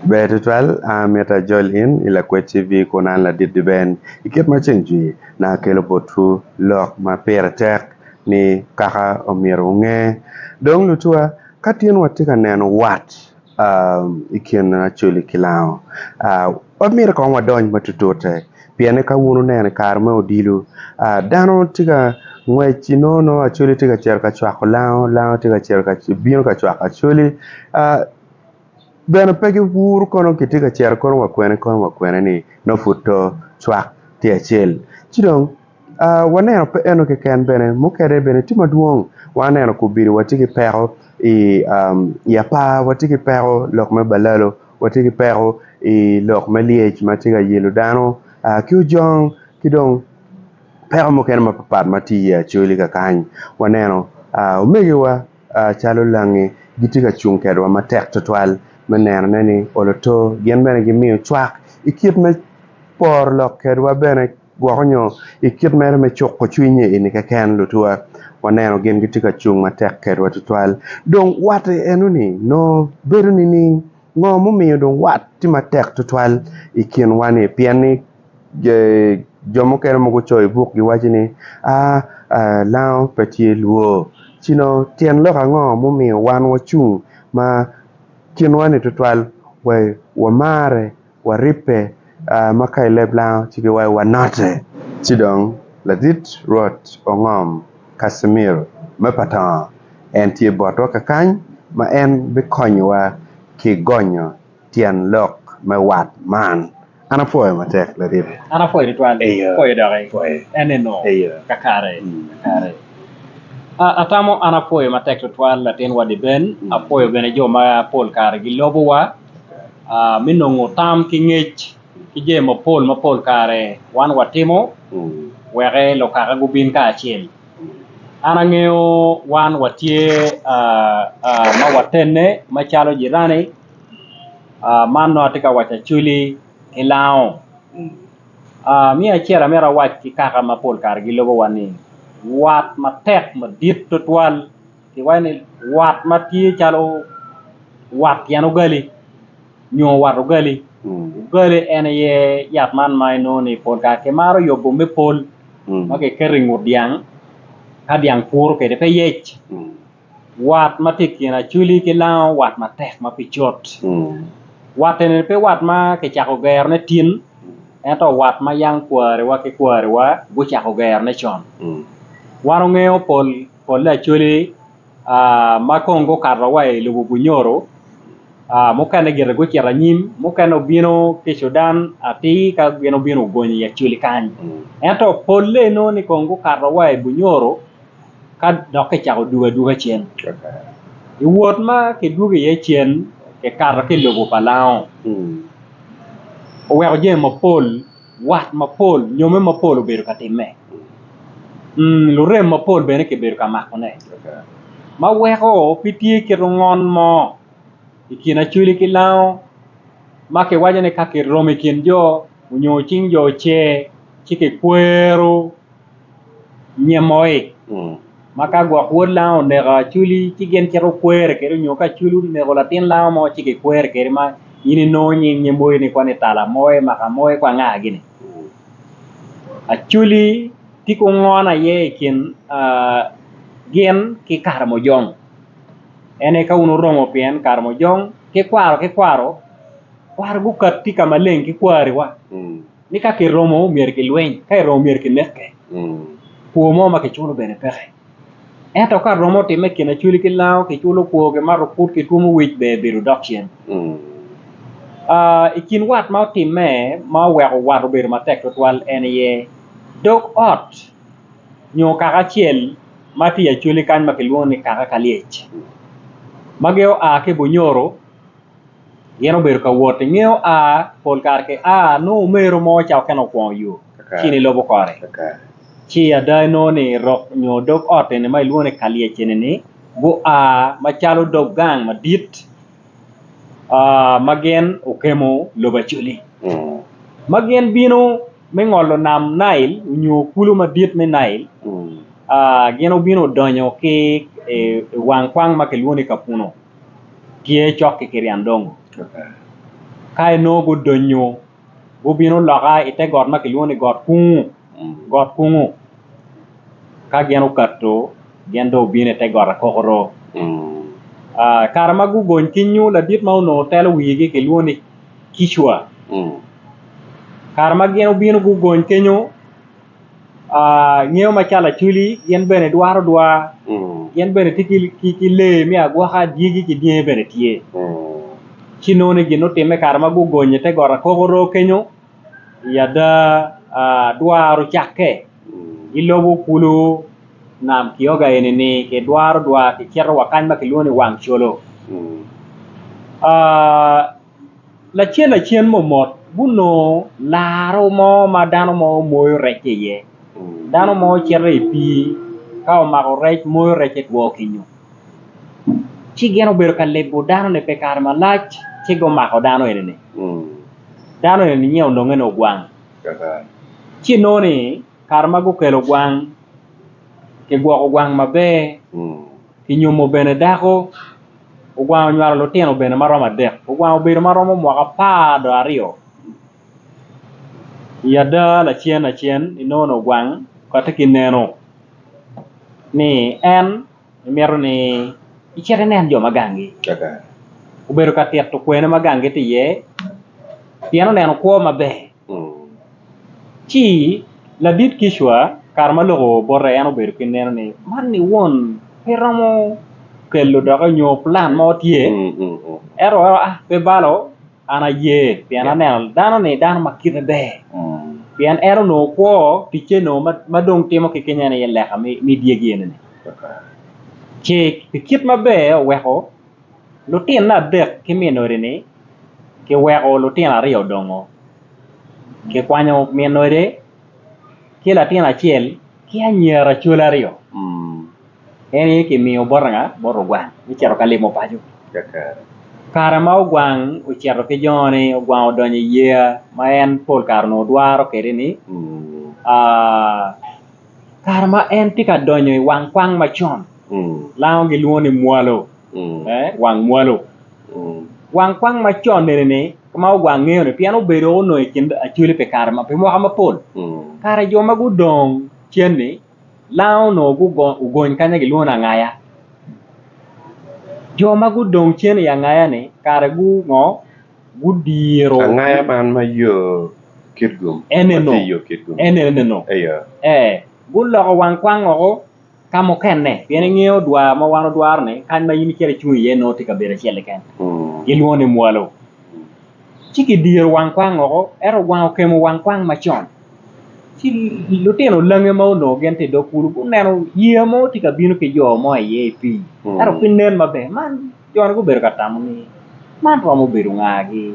Ber tutwal, an myero ajol in i Lakwed TV kun an ladit Liben i kit ma ceng jwi, naka akelo botwu lok ma pire tek ni kaka omyero wunge. Dong lutuwa, ka tin watye ka neno wat i kin Acholi ki Lango, pe myero kong wadony matutute, pien ni ka wun wuneno i kare me odilo, dano tye ka ngwec inongo nongo Acholi tye ka cito ka cwako Lango, Lango tye ka cito ka bino ka cwako Acholi. bene pe giwur kono kitye ka cito kono wa kwene kono wa kwene ni nongo pud to cwak tye acel ci dong waneno pe eno keken bene mukene bene tye madwong wa neno kubili watye ki peko i apar watye ki peko lok me balalo watye ki peko i lok me lyec ma tye ka yelo dano ki ojong ki dong peko mukene mapatpat ma tye iye acholi kakany waneno omegiwa. calo langi gitye ka cung kwedwa matek tutwal me nenone ni olo to. Gin bene gimiyo cwak i kit me poro lok kwedwa bene gwoko nyo i kit mere me cuko cwiny ini keken. Lutwa waneno gin gitye ka cung matek kwedwa tutwal. Dong wat enoni nongo bedo nining? Ngo mumiyo dong wat tye matek tutwal i kinwa-ni? Pien ni. Jo mukene ma gucoyo i buk giwaco ni lango pe tye lwor ci dong tyen lok ango ma omiyo wan wacung ma kinwa-ni tutwal wa i wamare, waribbe ma ka i leb lango ci giwaco wanote. Ci dong ladit Rwot ongom Casimir me Patongo, en tye botwa kakany ma en bikonyowa ki gonyo Tyen lok me wat man, An apwoyo matek laryebe. An apwoyo tutwal, pwoyo doki enino kakare kakare. Atamo an apwoyo matek tutwal latin wadi Ben, apwoyo bene jo ma pol kare gilobowa me nongo tam ki ngec ki jami mapol ma pol kare wan watimo weke lukaka gubin kacel. An angeyo wan watye ma watene macalo jirani. man nongo atye ka waco acwali ki lango me acel amito awac ki kaka ma pol kare gilobo wa ni wat matek madit tutwal ki waco ni wat ma tye calo wat tyen ugali nyo wat ugali, ugali en aye yat man ma inongo ni pol kare ki maro yubo me pol ma ki keto ingut dyang ka dyang puro kwede pe yec. Wat ma tye i kin Acwili ki Lango wat matek ma pe cut. Wat eni pe wat ma kicako gerone tin ento wat ma yang kwariwa ki kwariwa gucako gerone con. Wan ongeyo pol polle Acwili ma kong gukato wa i lobo Bunyoro mukene gire gucito anyim mukene obino ki i Cudan atir ka gin obino ogonyo i Acwili kany ento polle inongo ni kong gukato wa i Bunyoro. ka dok kicako dwogo adwoga cen. I wot ma kidwogo iye cen, kikato ki i lobo pa Laongo. Oweko jami mapol, wat mapol, nyomme mapol obedo ka timme. Lurem mapol bene kibedo ka makone. Ma weko pe tye kit ongon mo i kin Acweli ki Laongo ma kiwaco ni ka kiromo i kin jo nyo cing jo oce ci kikwero. nyemoi ma ka gwok wod lango oneko acwuli ci gin cito kwere kede nyo ka acwuli oneko latin lango mo ci ki kwere kede ma in inongo nying nyemoi ni kwani tala moe maka moe kwa nga gini acwuli tye ki ongono aye i kin gin ki karamujong en aye ka wun wuromo pien karamujong ki kwaro ki kwaro, kwaro gukat tye ka maleng ki kwari wa. ni ka kiromo myero kilweny, ka eromo myero kineke. Kwo mo ma kiculo bene peke. Ento ka romo otimme i kin acwili ki lango, kiculo kwo, kimato put, kitwomo wic, ber ebedo dok cen. I kin wat ma otimme ma oweko wat obedo matek twatwal en aye dog ot nyo kaka acel ma tye i acwali kany ma kilwongo ni kaka Kalyec ma gin oa ki Bunyoro. Gin obedo ka wot i ngeyo a, pol kare ki a, nongo omero mo ca okene okwongo yo ci ni lobo kore. Ci ada inongo ni rok nyo dog ot eni ma ilwongo ni Kalyec eni-ni gua macalo dog gang madit ma gin okemo lobo Acholi ma gin bino me ngolo nam Nail onyo kulu madit me Nail. Gin obino odonyo ki i wang kwang ma kilwongo ni Kapuno. tye cok ki Kirian Dongo. Ka enongo gudonyo gubino loka i te got ma kilwongo ni got Kungu, got Kungu. Ka gin okato gin dong obino i te got Akokoro. Ah, kare ma gugony ki nyo ladit ma onongo telo wigi kilwongo ni Kicwa. Kare ma gin obino gugony kenyo, ngeyo ma cal acwili gin bene dwaro dwa gin bene tye ki lee me agwaka dyegi ki dyangi bene tye ci nongo ni gin ma otimme kare ma gugonyo ite got akokoro kenyo i ada dwaro ocakke gilobo kulu nam kioga eni-ni kidwaro dwa kicito wa kany ma kilwongo ni wang colo lacen lacen mo mot gunongo laro mo ma dano mo moyo rec ki iye dano mo cito i pii ka omako rec moyo recce two kenyo ci gin obedo ka lebo dano ni pi kare malac ci gumako dano eni-ni dano eni nyen ononge ni ogwang ci nongo ni kare ma gukelo ogwang kigwoko ogwang maber ki nyomo bene dako Ogwang onywalo lutino bene ma romo adek. Ogwang obedo ma romo mwaka apar dong aryo. I ada lacen lacen inongo ni ogwang kotte ki neno ni en mito ni icit inen jo ma gangi. Obedo ka tito kwene ma gangi tye iye pien oneno kwo maber. Ci ladit kicwa kare ma lok oo bote en obedo ki neno ni man ni won pe romo kelo doki nyo pulan mo tye ento pe balo an aye pien aneno dano ni dano ma kite ber pien en onongo kwo ticce onongo ma dong timo ki keny en aye leka me dyegi eni ni ci pi kit maber oweko lutinna adek ki min odi ni kiweko lutino aryo odongo kikwanyo min ode ki latin acel ki anyira col aryo en aye kimiyo bot anga bot lugwang me cito ka limo paco kare ma ogwang ocito ki joni ogwang odonyo i yeya ma en pol kare onongo dwaro kwede ni kare ma en tye ka donyo i wang kwang macon lango gilwongo ni mwalo. wang mwalo. Wang kwang ma con nene ni ma ogwang ngeyo ni pien obedo onongo i kin acoli pi kare ma pi mwaka mapol kare jo ma gudong cen ni lango onongo ogony kanya gilwongo ni angaya. Jo ma gudong cen i angaya ni kare gu ngo gudiro angaya man ma yo kit gum eneno eneno ee guloko wang kwang woko. ka mukene pien ingeyo dwar ma wan odwaro ni kany ma in icito icung iye nongo tye kabedo acel keken gilwongo ni mwalo ci kidiro wang kwang woko ento wang okemo wang kwang macon ci lutino lange ma onongo gin tye idog kulu guneno yeya mo tye kabino ki jo mo iye i pii ento pe nen maber man Jo-ni gubedo ka tamo ni, 'Man romo bedo ngagi?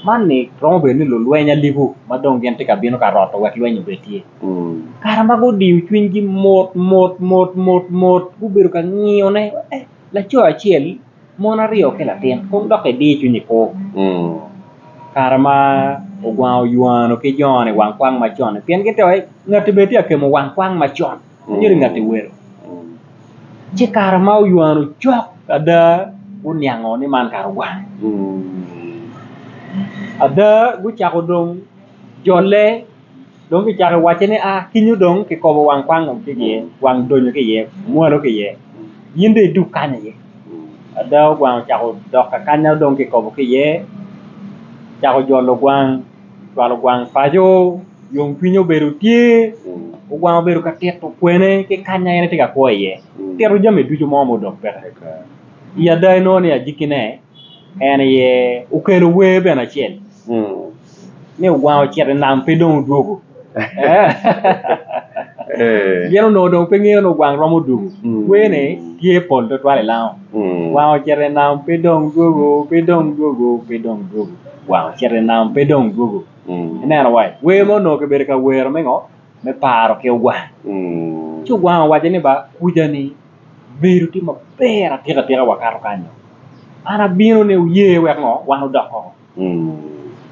Man-ni romo bedo ni lulweny alibu ma dong gin tye ka bino ka roto wek lweny obed tye. Kare ma gudiyo cwinygi motmot, motmot, gubedo ka ngiyone, laco acel, mon aryo ki latin, kun dok idiyo cwinyi kwo. Kare ma ogwango Yuanu ki jo-ni wang kwang macon-ni, pien gitye ka waci, 'Ngatti bene tye ka kemo wang kwang macon. Myero ngat i welo ci kare ma oywano cok ada guniango ni man kare ogwange ada gucako dong jolle dong kicako wace ni aa kinyo dong kikobo wang kwango ki iye wang donyo ki iye mwalo ki iye in dong idug kany aye ada ogwango ocako dok kakanya dong kikobo ki iye cako jolo gwang cwalo gwang paco yom cwinye obedo tye ogwang obedo ka tito kwene ki kanya en tye ka kwo iye tito jami ducu mo ma odong peke i ada inongo ni agikkine en aye okelo wer bene acel ni ogwang ocito inam pe dong odwogo gin onongo dong pe ngeyo ni ogwang romo dwogo werne tye pol twatwal i lango ogwang ocito inam pe dong dwogo pe dong dwogo pe dong dwogo. Wang ocito i nam pe dong dwogo. Ineno wai, wer mo onongo kibedo ka wero me ngo? Me paro ki ogwang. Ci ogwang owaco ni ba kuja ni bedo tye maber atika tika wakato kany oo. An abino ni wuye wek ngo? Wan wudok koko.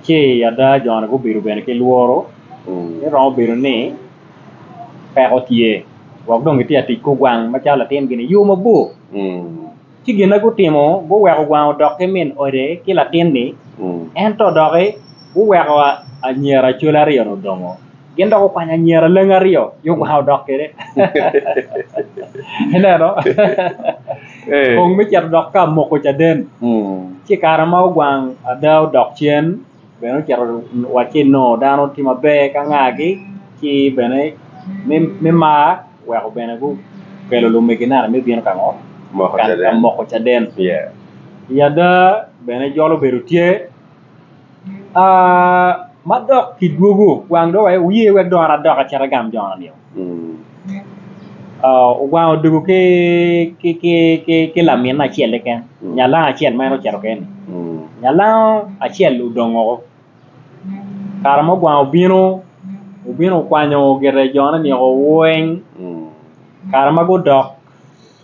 Ci ada joni gubedo bene ki lworo ni romo bedo ni peko tye wek dong gitye ka tic ki ogwang macalo latin gi ni yo mabor. Ci gin ma gutimo guweko gwang odok ki min ode ki latin-ni, ento doki guweko anyira acoli aryo-ni odongo. Gin dok gukwanyo anyira lengi aryo ki ogwang odok kwede. Ineno? Kong me cito dok ka moko caden. Ci i kare ma ogwang ada odok cen, Bene ocito wacci nongo dano tye maber ki angagi ci bene me mar weko bene gukelo lumegi naka me bino ka ngo ka moko caden i ada bene jolo obedo tye madok kidwogo wang dong wuye wek dong an adok acit agam jona nio. Ogwango odiko ki laminne acel keken nyalango acel ma en ocito kene-ni nyalango acel odong woko kare ma ogwango obino obino okwanyo gire jone nio weng kare ma gudok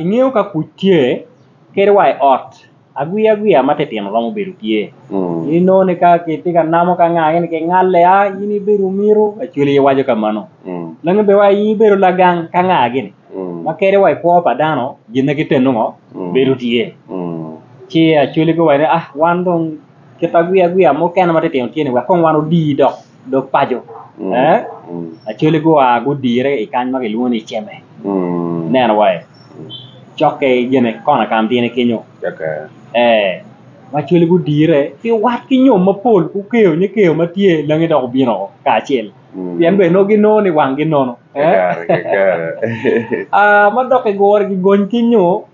ingeyo ka kuc tye kadi wa i ot agwiya gwiya ma titino romo bedo tye inongo ni ka kitye ka namo ka anga gini kingale a in ibedo omiro lacwale aye waco ka mano lange bene wa in ibedo lagang ka anga gini ma kadi wa i kwo pa dano gin ma giteni ongo bedo tye ci lacwale giwaco ni a wan dong kit agwiya gwiya mukene ma titino tye ni wek kong wan odi dok. lok paco lacoli gua gudire i kany ma kilwongo ni Ceme ineno wa aye cokke gine kona ka mutine kenyo lacoli gudire ki wat ki nyom mapol gukeyo nyo keyo ma tye i langi dok obino woko kacel pien bene nongo ginongo ni wanggi nono ma doki gure gigony ki nyo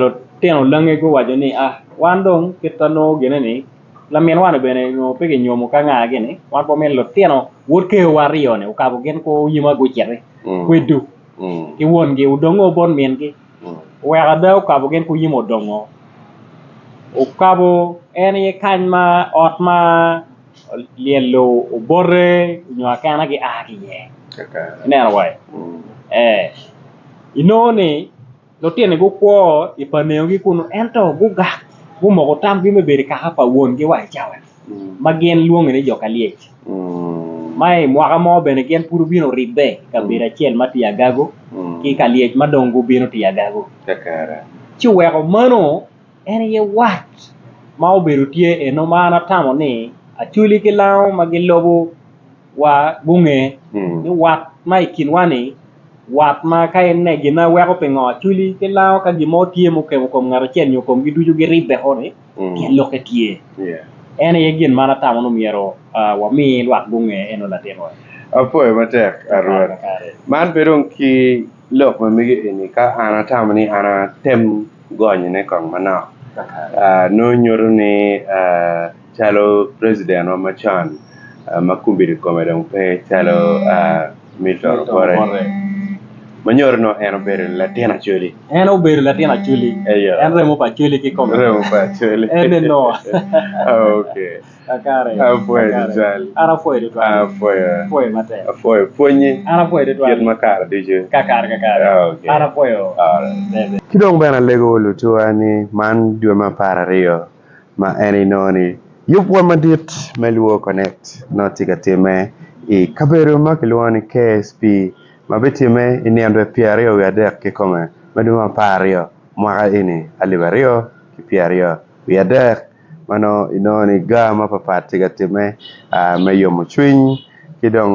Lutino langi guwaco ni, Wan dong kit ma nongo gine-ni laminwani bene nongo pe kinyomo ki anga gini, wan pe wamini lutino wod kewa aryo-ni okabo gin kwo yima guciti kwedu ki wongi odong o bot mingi. Oweko ada okabo gin kwo yima odongo, okabo en aye kany ma ot ma. lyelo obote nyo akena gia ki iye ineno wa inongo ni lutini gukwo i paneogi kunu ento gugak gumoko tamgi me bedo i kaka pa wongi wa i cawani ma gin lwonge ni jo ka lyec ma i mwaka mo bene gin pud gubino oribbe i kabedo acel ma tye agagu ki ka lyec ma dong gubino tye agagu ci oweko mano En aye wat ma obedo tye eno ma an atamo ni Acholi ki Lango ma gilubo wa gunge ni wat ma i kinwa ni wat ma ka en ne gin ma weko pingo Acholi ki Lango ka gin mo tye ma okemo kom ngat acel nyo komgi ducu giribbe ko ni pien lokke tye. En aye gin ma an atamo ni myero wami lwak gunge eno latin wa. Apwoyo matek Rwot. Man pe dong ki. Lok ma mege eni ka an atamo ni an atem gonyone kong manok nongo nyuto ni calo president wa macon ma kombeddi kome dong pe calo Milton Obote ma nyuto ni en obedo latin Acholi en obedo latin Acholi en remo pa Acholi kikome remo pa Acholi ene nongo. Apwoyo tutwal. Apwoyo pwonyi kit ma kare ducu. Ki dong bene alego lutuwa ni man dwe me apar aryo ma en inongo ni yub pwony madit me Luo Connect nongo tye ka timme i kabedo ma kilwongo ni KSP ma bitimme i nino dwe pyer aryo wiye adek kikome me dwe me apar aryo mwaka eni alip aryo ki pyer aryo wiye adek. meno inongo ni gaa mapapat tye ka timme me yomo cwiny ki dong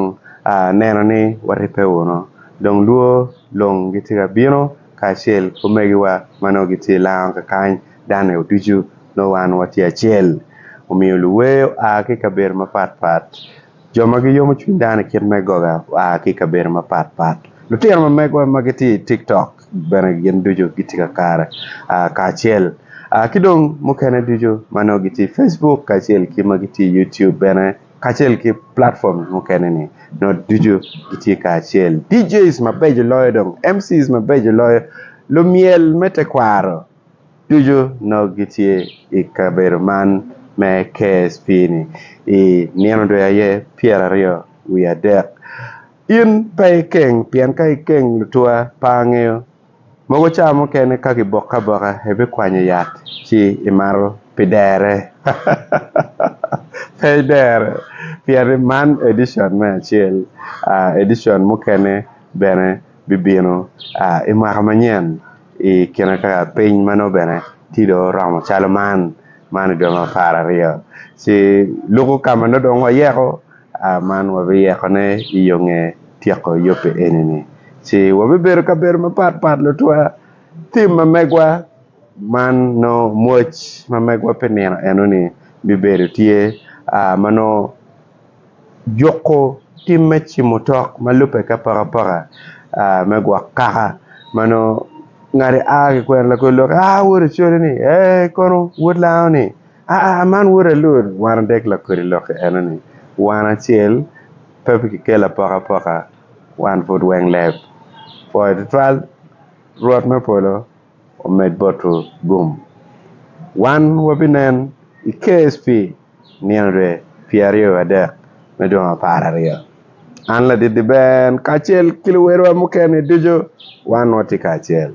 neno ni waribbe wunu dong lwor long gitye ka bino kacel ki omegiwa ma nongo gitye i lounge kakany dano aye ducu nongo wan watye acel omiyo luwer oa ki i kabedo mapat pat. Jo ma giyomo cwiny dano i kit me goga gua ki i kabedo mapat pat. Lutino ma megwa ma gitye i TikTok bene gin ducu gitye ka kare kacel ki dong mukene ducu ma nongo gitye i Facebook kacel ki ma gitye i YouTube bene kacel ki platforms mukene-ni nongo ducu gitye kacel. DJs mabeco loyo dong, MCs mabeco loyo, lumyel me tekwaro. ducu nongo gitye i kabedo man me KSP ni i nino dwe aye pyera aryo wiye adek in pe ikeng pien ka ikeng lutwa pe angeyo mogo ca mukene ka kiboke aboka ibikwanyo yat ci imato pi dere pe idere pien ni man edition me acel edition mukene bene bibino i mwaka manyen i kine ka piny ma nongo bene tye dong oromo calo man, man i dwe ma apar aryo ci luku ka ma nongo dong wayeko man wabiyekone i yo nge tyeko yubbe eni-ni ci wabibedo i kabedo mapat pat lutwa tim ma megwa man nongo mwoc ma megwa pi nino eno-ni bibedo tye ma nongo juko tim me cimo tok ma lubbe ki apakapaka me gwok kaka ma nongo ngati a ki kwena lakwed lok ni aa woda codi-ni ee kono wod lango-ni aa man woda lud wan adek lakwedi lok enoni wan acel pe ki kelo apakapaka wan pud weng leb pwoyo tutwal Rwot me polo omed boto gum. Wan wabinen i KSP nino dwe pye aryo adek me dwe apar aryo. An Ladidi Ben kacel ki luwerowa mukene ducu wan watye kacel.